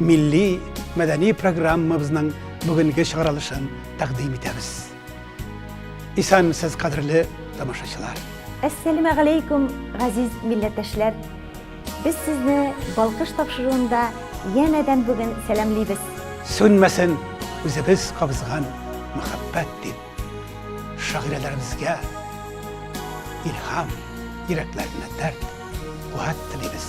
милли мәдәни программабызның бүгенге чыгарылышын тәкъдим итәбез. Исәнмесез, кадерле тамашачылар. Әссәләмә галәйкүм, газиз милләттәшләр. Без сезне Балкыш тапшыруында янәдән бүген сәламлибез. Сүнмәсен үзебез кабызган мәхәббәт дип. Шагыйрәләребезгә илһам, йөрәкләренә дәрт, куәт телибез.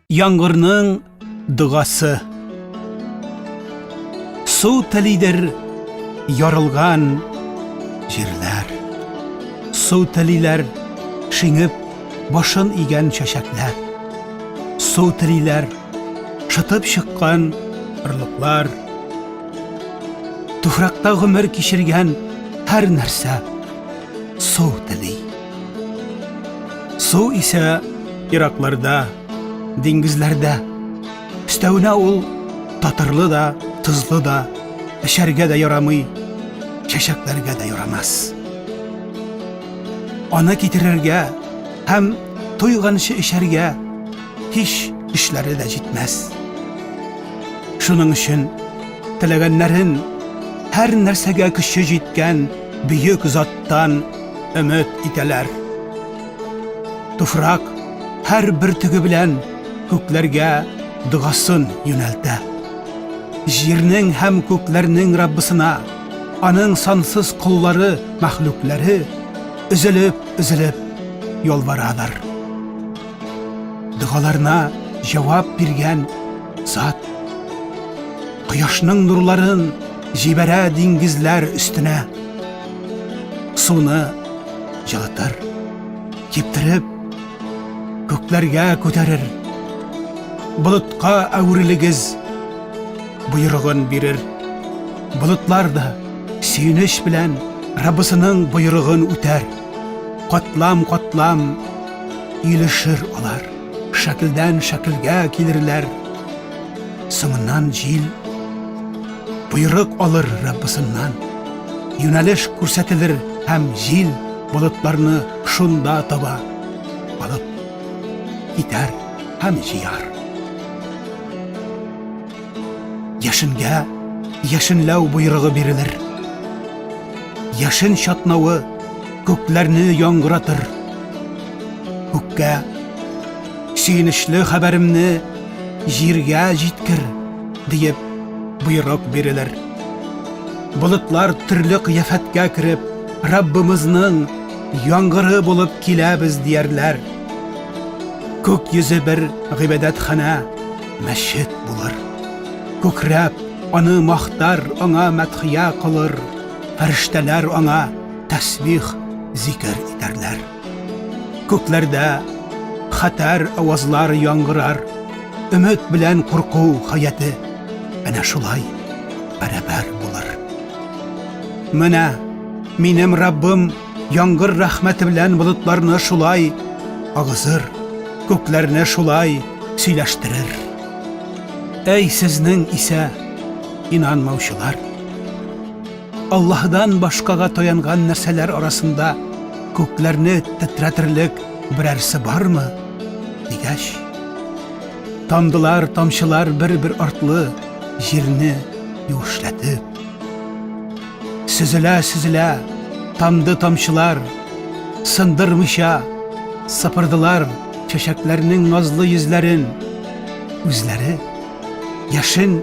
Яңгырның догасы Су телидер ярылган җирләр Су телиләр шиңеп башын игән чәчәкләр Су телиләр шытып чыккан орлыклар Туфракта гомер кичергән һәр нәрсә су тели. Су исә иракларда, диңгезләрдә. Өстәвенә ул татырлы да, тозлы да, эчәргә дә ярамый, чәчәкләргә дә ярамас. Аны китерергә һәм туйганчы эчәргә һич көчләре дә җитмәс. Шуның өчен теләгәннәрен һәр нәрсәгә көче җиткән бөек заттан өмет итәләр. Туфрак һәр бөртеге белән күкләргә догасын юнәлтә. Җирнең һәм күкләрнең Раббысына аның сансыз коллары, мәхлуклары өзелеп, өзелеп ялварадыр. Дәгаларына җавап биргән зат кояшның нурларын җибәрә диңгезләр өстенә. Суны җылытыр, киптереп, күкләргә күтәрер. Болытка әверелегез, боерыгын бирер. Болытлар да сөенеч белән Раббысының боерыгын үтәр. Катлам-катлам илешер алар. Шәкелдән шәкелгә килерләр. Соңыннан җил Боерык алыр Раббысыннан. Юнәлеш күрсәтелер һәм җил болытларны шунда таба алып китәр һәм җыяр. Яшенгә яшенләү боерыгы бирелер. Яшен чатнавы күкләрне яңгыратыр. Күккә сөенечле хәбәремне җиргә җиткер, диеп боерык бирелер. Болытлар төрле кыяфәткә кереп, Раббымызның яңгыры булып киләбез диярләр. Күк йөзе бер гыйбадәтханә, мәчет булыр. Күкрәп, аны мактар, аңа мәдхия кылыр. Фәрештәләр аңа тәсбих, зикер итәрләр. Күкләрдә хәтәр авазлар яңгырар, Өмет белән курку хаяте әнә шулай бәрабәр булыр. Менә минем Раббым яңгыр рәхмәте белән болытларны шулай агызыр, күкләрне шулай сөйләштерер. Әй сезнең исә инанмаучылар! Аллаһыдан башкага таянган нәрсәләр арасында күкләрне тетрәтерлек берәрсе бармы? дигәч, тамдылар, тамчылар бер-бер артлы җирне юешләтеп. Сөзелә-сөзелә тамды тамчылар, сындырмыйча сыпырдылар чәчәкләрнең назлы йөзләрен, үзләре. Яшен,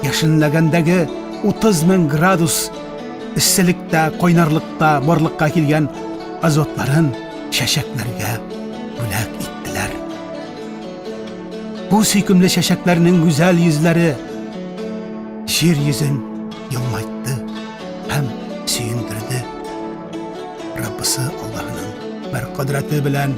яшенләгәндәге 30 мең градус эсселектә, кайнарлыкта барлыкка килгән азотларын чәчәкләргә бүләк иттеләр. Бу сөйкемле чәчәкләрнең гүзәл йөзләре җир йөзен елмайтты һәм сөендерде. Раббысы Аллаһының бер кодрәте белән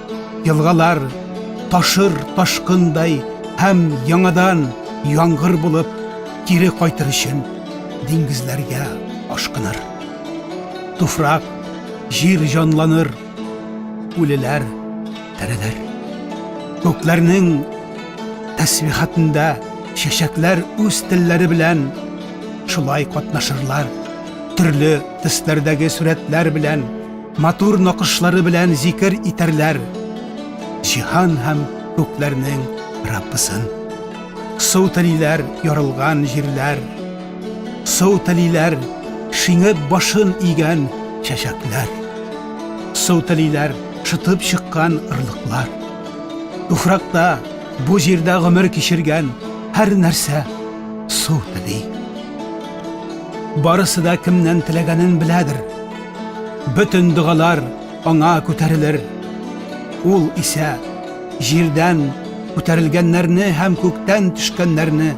Елгалар ташыр ташкындай һәм яңадан яңгыр булып кире кайтыр өчен диңгезләргә ашкыныр. Туфрак, җир җанланыр, үлеләр терелер. Күкләрнең тәсбихатында чәчәкләр үз телләре белән шулай катнашырлар, төрле төсләрдәге сурәтләр белән Матур накышлары белән зикер итәрләр Җиһан һәм күкләрнең Раббысын. Су телиләр ярылган җирләр, Су телиләр шиңеп башын игән чәчәкләр, Су телиләр шытып чыккан орлыклар. Туфракта, бу җирдә гомер кичергән һәр нәрсә су тели. Барысы да кемнән теләгәнен беләдер. Бөтен догалар аңа күтәрелер. Ул исә җирдән күтәрелгәннәрне һәм күктән төшкәннәрне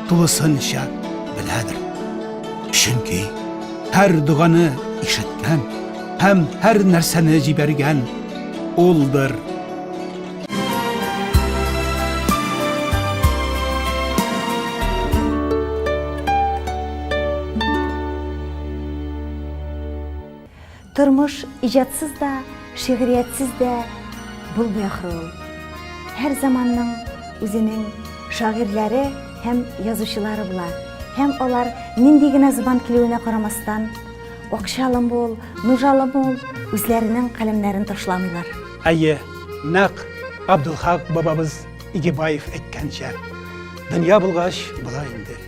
тулысынча беләдер. Чөнки һәр доганы ишеткән һәм һәр нәрсәне җибәргән Улдыр. Тормыш иҗатсыз да, шигъриятсез дә булмый ахры ул. Һәр заманның үзенең шагыйрьләре һәм язучылары була. Һәм алар нинди генә зубан килүенә карамастан, акчалы мул, нужалы мул, үзләренең каләмнәрен ташламыйлар. Әйе, нәкъ Абдулхак бабабыз Игебаев әйткәнчә, дөнья булгач, була инде.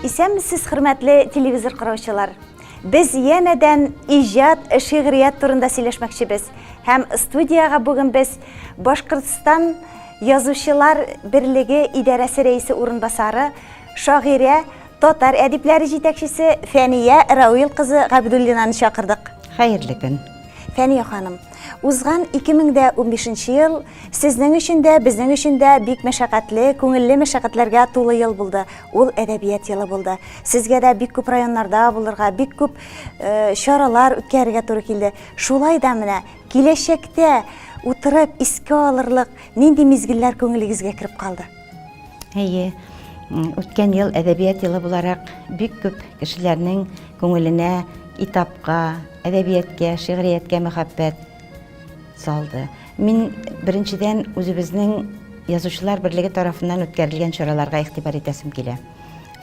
Исәнмесез, хөрмәтле телевизор караучылар! Без янәдән иҗат, шигърият турында сөйләшмәкчебез. Һәм студиягә бүген без Башкортстан язучылар берлеге идарәсе рәисе урынбасары, шагыйрә, татар әдипләре җитәкчесе Фәния Рауил кызы Габдуллинаны чакырдык. Хәерле көн. Фәния ханым, узган 2015 ел сезнең өчен дә, безнең өчен дә бик мәшәкатьле, күңелле мәшәкатьләргә тулы ел булды. Ул әдәбият елы булды. Сезгә дә бик күп районнарда булырга, бик күп э, чаралар үткәрергә туры килде. Шулай да менә киләчәктә утырып искә алырлык нинди мизгелләр күңелегезгә кереп калды? Әйе, үткән ел әдәбият елы буларак бик күп кешеләрнең күңеленә китапка, әдәбияткә, шигърияткә мәхәббәт салды. Мин беренчедән үзебезнең язучылар берлеге тарафыннан үткәрелгән чараларга игътибар итәсем килә.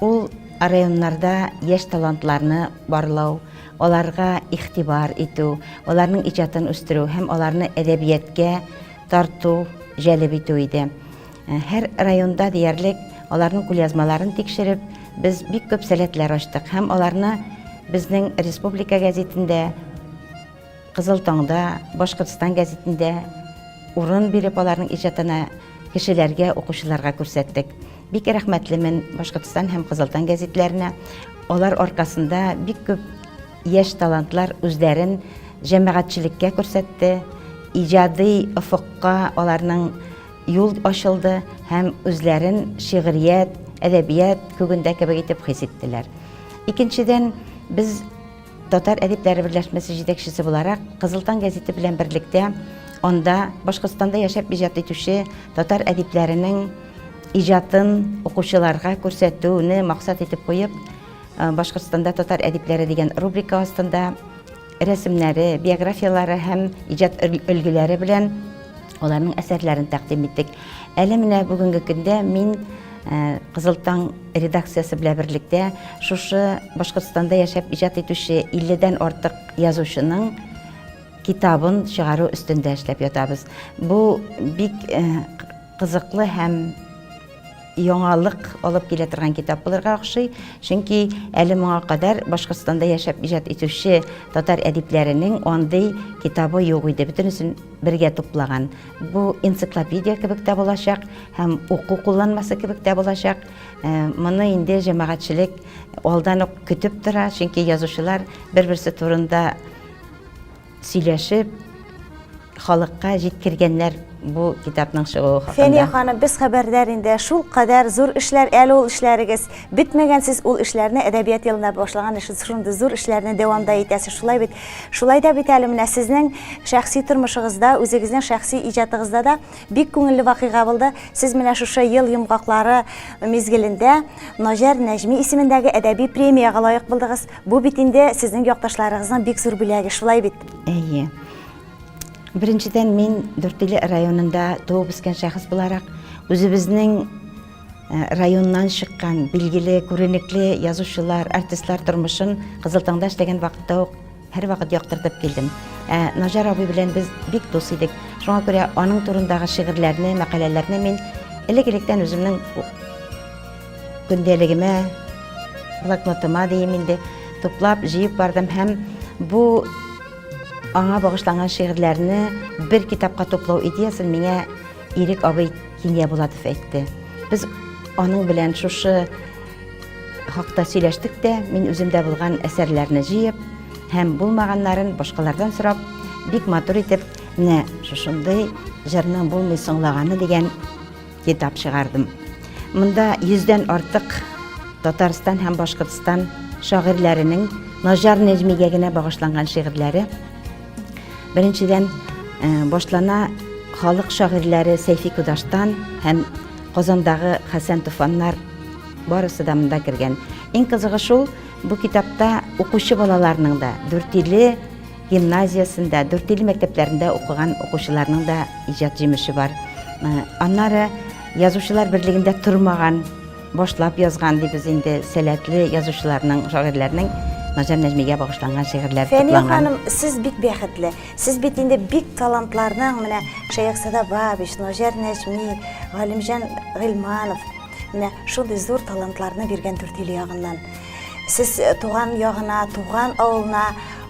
Ул районнарда яшь талантларны барлау, аларга игътибар итү, аларның иҗатын үстерү һәм аларны әдәбияткә тарту, җәлеп итү иде. Э, һәр районда диярлек аларның кулъязмаларын тикшереп, без бик күп сәләтләр ачтык һәм аларны безнең республика газетендә Кызыл таңда, Башкортстан гәзитендә урын биреп, аларның иҗатына кешеләргә, укучыларга күрсәттек. Бик рәхмәтлемен Башкортстан һәм Кызыл таң гәзитләренә. Алар аркасында бик күп яшь талантлар үзләрен җәмәгатьчелеккә күрсәтте, иҗади офыкка аларның юл ачылды һәм үзләрен шигърият, әдәбият күгендә кебек итеп хис иттеләр. Икенчедән, без Татар әдипләре берләшмәсе җитәкчесе буларак, Кызыл таң гәзите белән берлектә анда Башкортстанда яшәп иҗат итүче татар әдипләренең иҗатын укучыларга күрсәтүне максат итеп куеп, Башкортстанда татар әдипләре дигән рубрика астында рәсемнәре, биографияләре һәм иҗат өлгеләре белән Аларның әсәрләрен тәкъдим иттек. Әле менә бүгенге көндә мин Э, Кызыл таң редакциясе белән берлектә шушы Башкортстанда яшәп иҗат итүче 50-дән артык язучының китабын чыгару өстендә эшләп ятабыз. Бу бик э, кызыклы һәм яңалык алып килә торган китап булырга охшый. Чөнки әле моңа кадәр Башкортстанда яшәп иҗат итүче татар әдипләренең андый китабы юк иде. Бөтенесен бергә туплаган. Бу энциклопедия кебек тә булачак һәм уку кулланмасы кебек тә булачак. Э, моны инде җәмәгатьчелек алдан ук көтеп тора, чөнки язучылар бер-берсе турында Сөйләшеп, халыкка җиткергәннәр бу китапның чыгуы хакында. Фәния ханым, без хәбәрдар инде. Шул кадәр зур эшләр әле ул эшләрегез. Бетмәгән сез ул эшләрне әдәбият елында башлаган эш, шундый зур эшләрне дәвамда итәсез. Шулай бит. Шулай да бит әле менә сезнең шәхси тормышыгызда, үзегезнең шәхси иҗатыгызда да бик күңелле вакыйга булды. Сез менә шушы ел йомгаклары мизгелендә Наҗар Нәҗми исемендәге әдәби премиягә лаек булдыгыз. Бу бит инде сезнең якташларыгызның бик зур бүләге, шулай бит? Әйе. Беренчедән мин Дүртөйле районында туып үскән шәхес буларак, үзебезнең э, районнан чыккан билгеле, күренекле язучылар, артистлар тормышын Кызыл таңда эшләгән вакытта ук һәрвакыт яктыртып килдем. Ә Наҗар абый белән без бик дус идек. Шуңа күрә аның турындагы шигырьләрне, мәкаләләрне мин элек-электән үземнең Көндәлегемә, блокнотыма дим инде, туплап, җыеп бардым һәм бу аңа багышланган шигырьләрне бер китапка туплау идеясын миңа Ирек абый Киния Булатов әйтте. Без аның белән шушы хакта сөйләштек тә, мин үземдә булган әсәрләрне җыеп һәм булмаганнарын башкалардан сорап, бик матур итеп, менә шушындый җырның булмый соңлаганы дигән Китап чыгардым. Монда йөздән артык Татарстан һәм Башкортстан шагыйрьләренең Наҗар Нәҗмигә генә багышланган шигырьләре. Беренчедән, э, башлана халык шагыйрьләре Сәйфи Кудаштан һәм Казандагы Хәсән Туфаннар барысы да монда кергән. Иң кызыгы шул, бу китапта укучы балаларның да, дүртиле, гимназиясендә, Дүртөйле мәктәпләрендә укыган укучыларның да иҗат җимеше бар. Э, аннары язучылар берлегендә тормаган, башлап язган дибез инде сәләтле язучыларның, шагыйрьләрнең Назар Нәҗмигә багышланган шигырьләр тупланган. Фәния ханым, сез бик бәхетле. Сез бит инде бик талантларның менә Шаяк Садабабич, Назар Нәҗми, Галимҗан Гыйлманов менә шундый зур талантларны биргән Дүртөйле ягыннан. Сез э, туган ягына, туган авылына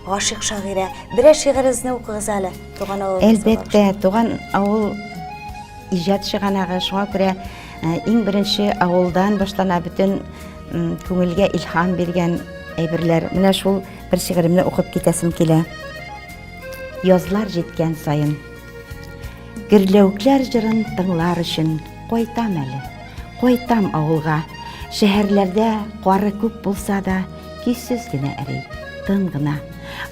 Гашыйк шагыйрә, берәр шигырегезне укыгыз әле, туган авыл. Әлбәттә, туган авыл иҗат чыганагы, шуңа күрә э, иң беренче авылдан башлана бөтен күңелгә илһам биргән әйберләр. Менә шул бер шигыремне укып китәсем килә. Язлар җиткән саен Герләвекләр җырын тыңлар өчен кайтам әле. Кайтам авылга. Шәһәрләрдә кары күп булса да, кисез генә эри, тын гына.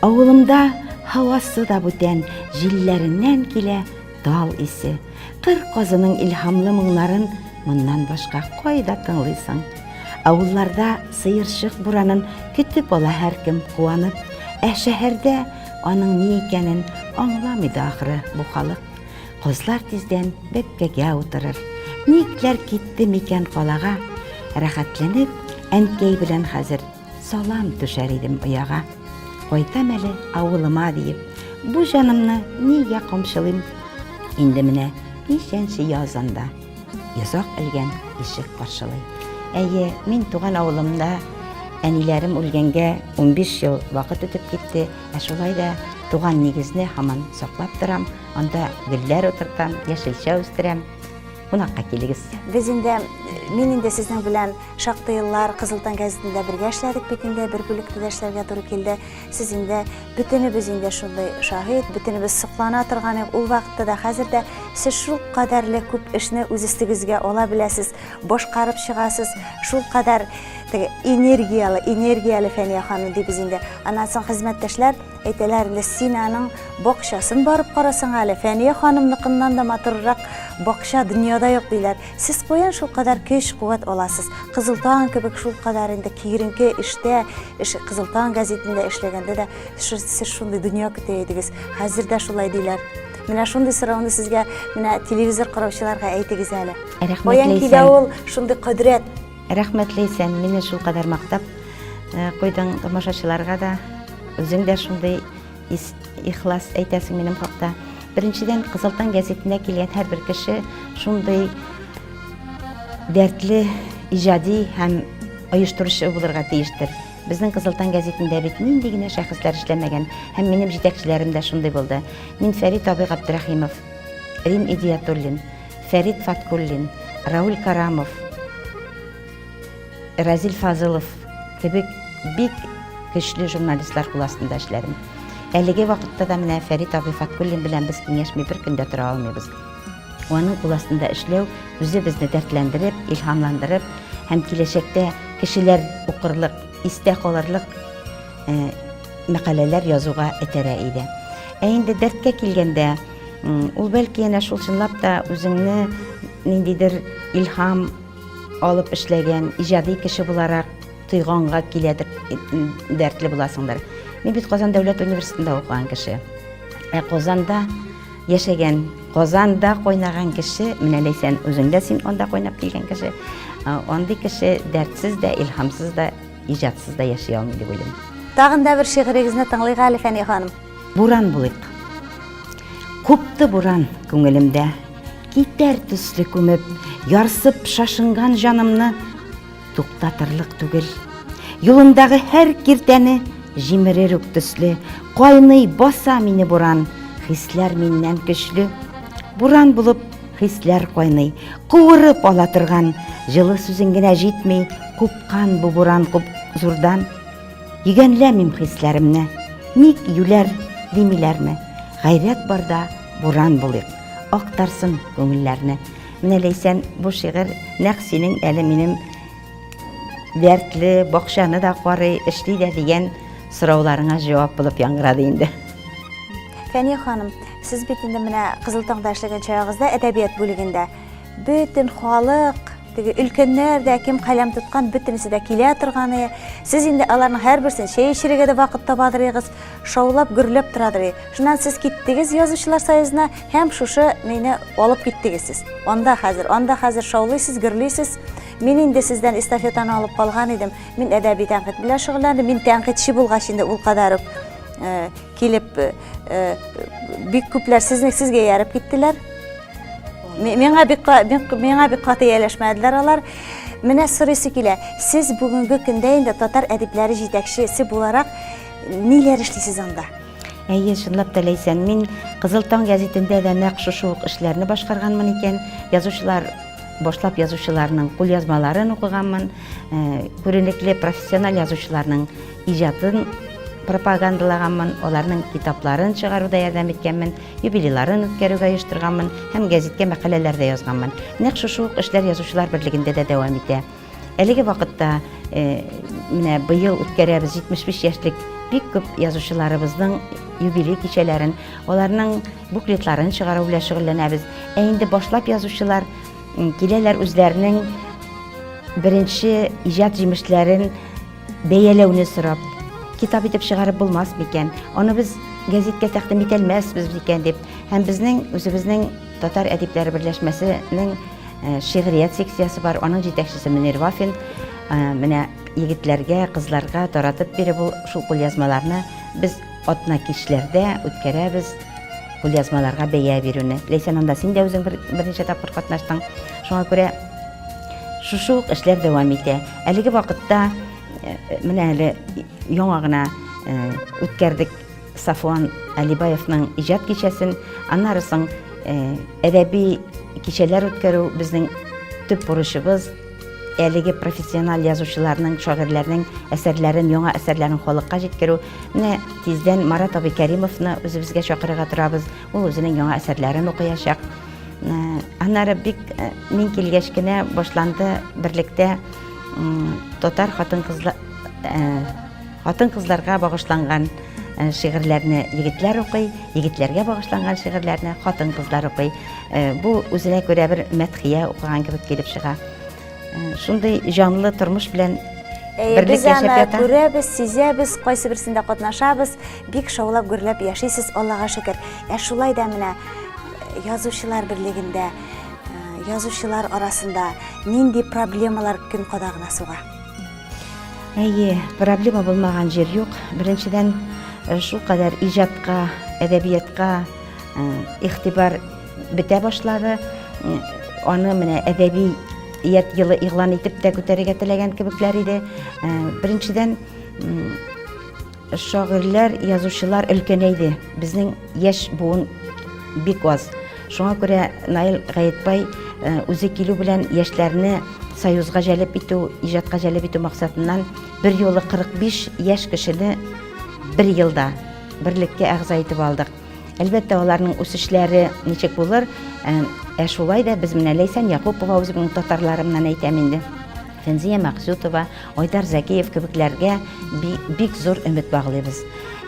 Авылымда һавасы да бүтән, җилләреннән килә тал исе. Кыр казының илһамлы моңнарын моннан башка кайда тыңлыйсың? Авылларда сыерчык буранын көтеп ала һәркем куанып, ә шәһәрдә Аның ни икәнен аңламый да ахры бу халык. Козлар тиздән бәпкәгә утырыр. Никләр китте микән калага? Рәхәтләнеп, әнкәй белән хәзер салам түшәр идем ояга. Кайтам әле авылыма диеп, бу җанымны нигә камчылыйм? Инде менә ничәнче яз анда. Йозак элгән ишек каршылый. Әйе, мин туган авылымда әниләрем үлгәнгә 15 ел вакыт үтеп китте, ә шулай да туган нигезне һаман саклап торам, анда гөлләр утыртам, яшелчә үстерәм. Кунакка килегез. Без инде, мин инде сезнең белән шактый еллар Кызыл таң газетында бергә эшләдек бит инде, бер бүлектә дә эшләргә туры килде. Сез инде бөтенебез инде шундый шаһит, бөтенебез соклана торган идек. Ул вакытта да, хәзер дә сез шул кадәрле күп эшне үз өстегезгә ала беләсез, башкарып чыгасыз. Шул кадәр теге энергияле, энергияле Фәния ханым дибез инде. Аннан соң хезмәттәшләр әйтәләр инде, син аның бакчасын барып карасаң әле, Фәния ханымныкыннан да матуррак бакча дөньяда юк диләр. Сез каян шул кадәр көч, куәт аласыз? Кызыл таң кебек шул кадәр инде киеренке эштә, эш Кызыл таң газетында эшләгәндә дә сез шундый дөнья көтә идегез. Хәзер дә шулай диләр. Менә шундый сорауны сезгә менә телевизор караучыларга әйтегез әле. Рәхмәтле Каян килә ул шундый кодрәт? Рәхмәтле исән, мине шул кадәр мактап э, куйдың тамашачыларга да. Үзең дә шундый Ис, ихлас әйтәсең минем хакта. Беренчедән, Кызыл таң гәзитенә килгән һәрбер кеше шундый дәртле иҗади һәм оештыручы булырга тиештер. Безнең Кызыл таң гәзитендә бит нинди генә шәхесләр эшләмәгән, һәм минем җитәкчеләрем дә шундый булды. Мин Фәрит абый Габдрәхимов, Рим Идиятуллин, Фәрит Фаткуллин, Рауль Карамов, Разил Фазылов кебек бик көчле журналистлар кул астында эшләдем. Әлеге вакытта да менә Фәрит абый Фаткуллин белән без киңәшми бер көндә тора алмыйбыз. Аның кул астында эшләү үзе безне дәртләндереп, илһамландырып һәм киләчәктә кешеләр укырлык, истә калырлык э, мәкаләләр язуга этәрә иде. Ә инде дәрткә килгәндә, ул бәлки янә шул чынлап та үзеңне ниндидер илһам Алып эшләгән, иҗади кеше буларак тойганга килә дип дәртле буласыңдыр. Мин бит Казан дәүләт университетында укыган кеше. Ә Казанда яшәгән, Казанда кайнаган кеше, менә Ләйсән үзеңдә син анда кайнап килгән кеше. Андый кеше дәртсез дә, илһамсыз да, иҗатсыз да яши алмый дип уйлыйм. Тагын да бер шигырегезне тыңлыйк әле, Фәния ханым. Буран булыйк. Купты буран күңелемдә, Китәр төсле күмеп, ярсып шашынган җанымны туктатырлык түгел. Юлымдагы һәр киртәне җимерер үк төсле, кайный баса мине буран, хисләр миннән көчле. Буран булып хисләр кайный, куырып ала торган, җылы сүзең генә җитми, купкан бу буран куп зурдан. Йөгәнләмим хисләремне, ник юләр димиләрме? Гайрәт барда буран булыйк, актарсын күңелләрне. Менә Ләйсән, бу шигырь нәкъ синең әле минем дәртле бакчаны да карый, эшли дә дигән сорауларыңа җавап булып яңгырады инде. Фәния ханым, сез бит инде менә Кызыл таңда эшләгән чагыгызда әдәбият бүлегендә Бөтен халык, теге өлкәннәр дә, кем каләм тоткан, бөтенесе дә килә торганы. Сез инде аларның һәрберсен чәй эчерергә дә вакыт таба дырыгыз, шаулап, гөрләп тора дырый. Шуннан сез киттегез язучылар союзына һәм шушы мине алып киттегез сез. Анда хәзер, анда хәзер шаулыйсыз, гөрлисез. Мин инде сездән эстафетаны алып калган идем. Мин әдәби тәнкыйть белән шөгыльләндем. Мин тәнкыйтьче булгач инде ул кадәр үк э, Килеп, бик күпләр сезнең сезгә ярып киттеләр. Миңа бик миңа бик каты ияләшмәделәр алар. Менә сорыйсы килә, сез бүгенге көндә инде татар әдипләре җитәкчесе буларак ниләр эшлисез анда? Әйе, чынлап та ләйсән, мин Кызыл таң гәзитендә дә нәкъ шушы ук эшләрне башкарганмын икән. Язучылар башлап язучыларның кулъязмаларын укыганмын, күренекле профессиональ язучыларның Иҗатын пропагандалаганмын, аларның китапларын чыгаруда ярдәм иткәнмен, юбилейларын үткәрүгә оештырганмын һәм гәзиткә мәкаләләр дә язганмын. Нәкъ шушы ук эшләр Язучылар берлегендә дә дәвам итә. Әлеге вакытта э, менә быел үткәрәбез 75 яшьлек бик күп язучыларыбызның юбилей кичәләрен, аларның буклетларын чыгару белән шөгыльләнәбез. Ә инде башлап язучылар киләләр үзләренең беренче иҗат җимешләрен Бәяләүне сорап, китап итеп чыгарып булмас микән? Аны без гәзиткә тәкъдим итә алмасбыз микән дип, һәм безнең үзебезнең татар әдипләре берләшмәсенең э, шигърият секциясе бар, аның җитәкчесе Мөнир Вафин э, менә егетләргә, кызларга таратып бирә бу шул кулъязмаларны. Без атна кичләрдә үткәрәбез кулъязмаларга бәя бирүне. Ләйсән анда син дә үзең бер, берничә тапкыр катнаштың. Шуңа күрә шушы ук эшләр дәвам итә. Әлеге вакытта менә әле яңа гына үткәрдек Сафуан Алибаевның иҗат кичәсен, аннары соң әдәби кичәләр үткәрү безнең төп бурычыбыз, әлеге профессиональ язучыларның, шагыйрьләрнең әсәрләрен, яңа әсәрләрен халыкка җиткерү. Менә тиздән Марат абый Кәримовны үзебезгә чакырырга торабыз. Ул үзенең яңа әсәрләрен укыячак. Ә, аннары бик ә, мин килгәч кенә башланды берлектә татар хатын-кызлар ә, хатын-кызларга багышланган Э, шигырьләрне егетләр укый, егетләргә багышланган шигырьләрне хатын-кызлар укый. Э, бу үзенә күрә бер мәдхия укыган кебек килеп чыга. Э, шундый җанлы тормыш белән берлек яшәп ята. Без аны күрәбез, сизәбез, кайсы берсендә катнашабыз. Бик шаулап гөрләп яшисез, Аллага шөкер. Ә шулай да менә э, язучылар берлегендә, э, язучылар арасында нинди проблемалар көн кадагына суга? Әйе, проблема булмаган җир юк. Беренчедән, э, шул кадәр иҗатка, әдәбиятка игътибар бетә башлады. Аны менә әдәби ият елы игълан итеп тә күтәрергә теләгән кебекләр иде. Беренчедән, Шагыйрьләр, язучылар өлкәнәйде. Безнең яшь буын бик аз. Шуңа күрә Наил Гаетбай э, үзе килү белән яшьләрне союзга җәлеп итү, иҗатка җәлеп итү максатыннан бер юлы 45 яшь кешене бер елда берлеккә әгъза итеп алдык. Әлбәттә, аларның үсешләре ничек булыр? Ә, ә шулай да без менә Ләйсән Якупова үзебезнең татарларымнан әйтәм инде. Фәнзия Максютова, Айдар Зәкиев кебекләргә бик зур өмет баглыйбыз.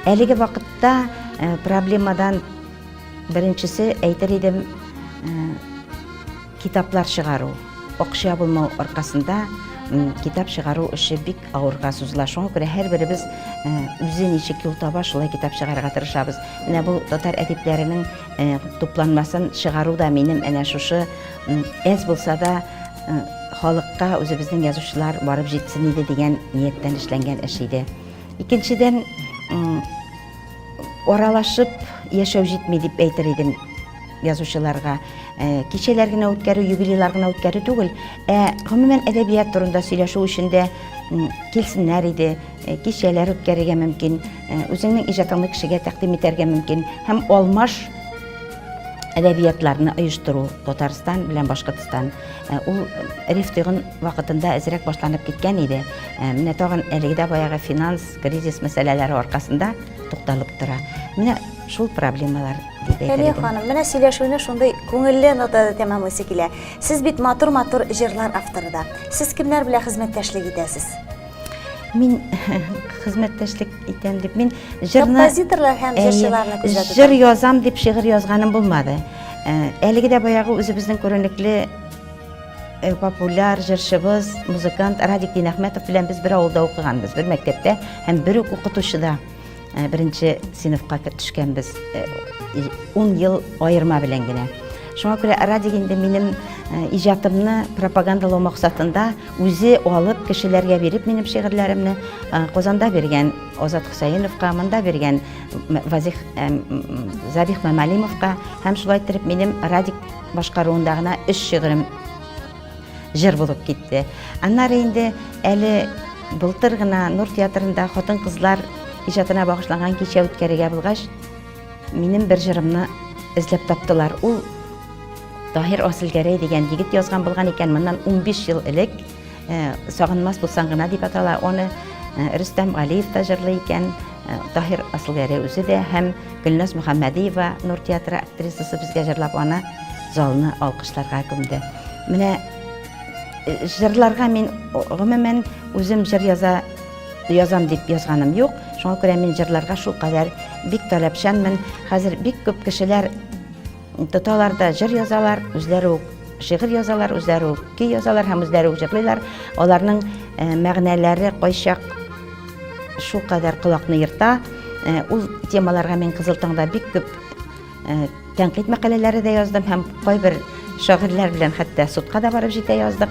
Әлеге вакытта э, проблемадан беренчесе әйтер идем э, китаплар чыгару. Акча булмау аркасында китап чыгару эше бик авырга сузыла. Шуңа күрә һәрберебез э, үзе ничек юл таба, шулай китап чыгарырга тырышабыз. Менә бу татар әдипләренең тупланмасын чыгару да минем әнә шушы Әз булса да халыкка үзебезнең язучылар барып җитсен иде дигән нияттән эшләнгән эш иде. Икенчедән аралашып яшәү җитми дип әйтер идем язучыларга. Э, кичәләр генә үткәрү, юбилейлар гына үткәрү түгел, ә гомумән әдәбият турында сөйләшү өчен дә килсеннәр иде, э, кичәләр үткәрергә мөмкин, э, үзеңнең иҗатыңны кешегә тәкъдим итәргә мөмкин һәм алмаш әдәбиятларны оештыру Татарстан белән Башкортстан. Э, ул риф тыгын вакытында әзрәк башланып киткән иде. Э, менә тагын әлеге дә баягы финанс кризис мәсьәләләре аркасында тукталып тора. Менә шул проблемалар Фәния ханым, менә сөйләшүне шундый күңелле нотада тәмамлыйсы килә. Сез бит матур-матур җырлар авторы да. Сез кемнәр белән хезмәттәшлек итәсез? Мин хезмәттәшлек итәм дип, мин җырны... Композиторлар һәм җырчыларны күзәтү. Җыр язам дип шигырь язганым булмады. Әлеге дә баягы үзебезнең күренекле Э, популяр җырчыбыз, музыкант Радик Динәхмәтов белән без бер авылда укыганбыз, бер мәктәптә һәм бер үк укытучыда. Ә, беренче сыйныфка кер- төшкәнбез. Э, и- Ун ел аерма белән генә. Шуңа күрә Радик инде минем э, иҗатымны пропагандалау максатында үзе алып, кешеләргә биреп минем шигырьләремне э, Казанда биргән Азат Хөсәеновка, монда биргән М- Вазих э, м- м, Забих Мамалимовка һәм шулай иттереп минем Радик башкаруында гына өч шигырем Җыр булып китте. Аннары инде әле былтыр гына Нур театрында хатын-кызлар иҗатына багышланган кичә үткәрергә булгач, минем бер җырымны эзләп таптылар. Ул Таһир Асылгәрәй дигән егет язган булган икән, моннан 15 ел элек э, Сагынмас булсаң гына дип атала. Аны э, Рөстәм Галиев та җырлый икән, Таһир Асылгәрәй үзе дә һәм Гөлназ Мөхәммәдиева Нур театры актрисасы безгә җырлап аны залны алкышларга күмде. Менә э, җырларга мин гомумән үзем җыр яза язам дип язганым юк. Шуңа күрә мин җырларга шул кадәр бик таләпчәнмен. Хәзер бик күп кешеләр Тоталар да җыр язалар, үзләре үк шигырь язалар, үзләре үк көй язалар һәм үзләре үк җырлыйлар. Аларның мәгънәләре кайчак шул кадәр колакны ерта. Ул темаларга мин Кызыл таңда бик күп тәнкыйть мәкаләләре дә яздым һәм кайбер шагыйрьләр белән хәтта судка да барып җитә яздык.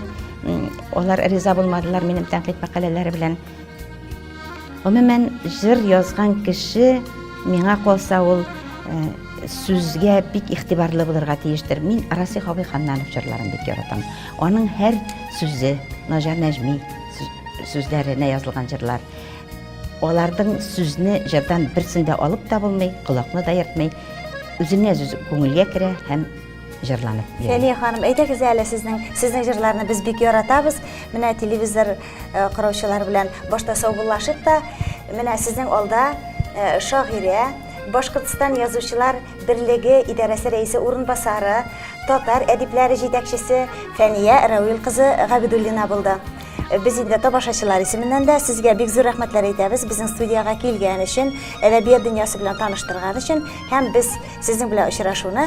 Алар риза булмадылар минем тәнкыйть мәкаләләре белән. Гомумән, җыр язган кеше, миңа калса, ул э, сүзгә бик игътибарлы булырга тиештер. Мин Расих абый Ханнанов җырларын бик яратам. Аның һәр сүзе, Наҗар Нәҗми сүзләренә язылган җырлар, алардың сүзне җырдан берсендә алып та булмый, колакны да ертмый, үзеңә үзе күңелгә керә һәм җырланып йөри. Фәния ханым, әйдәгез әле сезнең сезнең җырларны без бик яратабыз. Менә телевизор э, караучылар белән башта саубуллашыйк та, менә сезнең алда э, шагыйрә, Башкортстан язучылар берлеге идарәсе рәисе урынбасары, татар әдипләре җитәкчесе Фәния Рәвил кызы Габидуллина булды. Э, без инде табашачылар исеменнән дә сезгә бик зур рәхмәтләр әйтәбез безнең студиягә килгән өчен әдәбият дөньясы белән таныштырган өчен һәм без сезнең белән очрашуны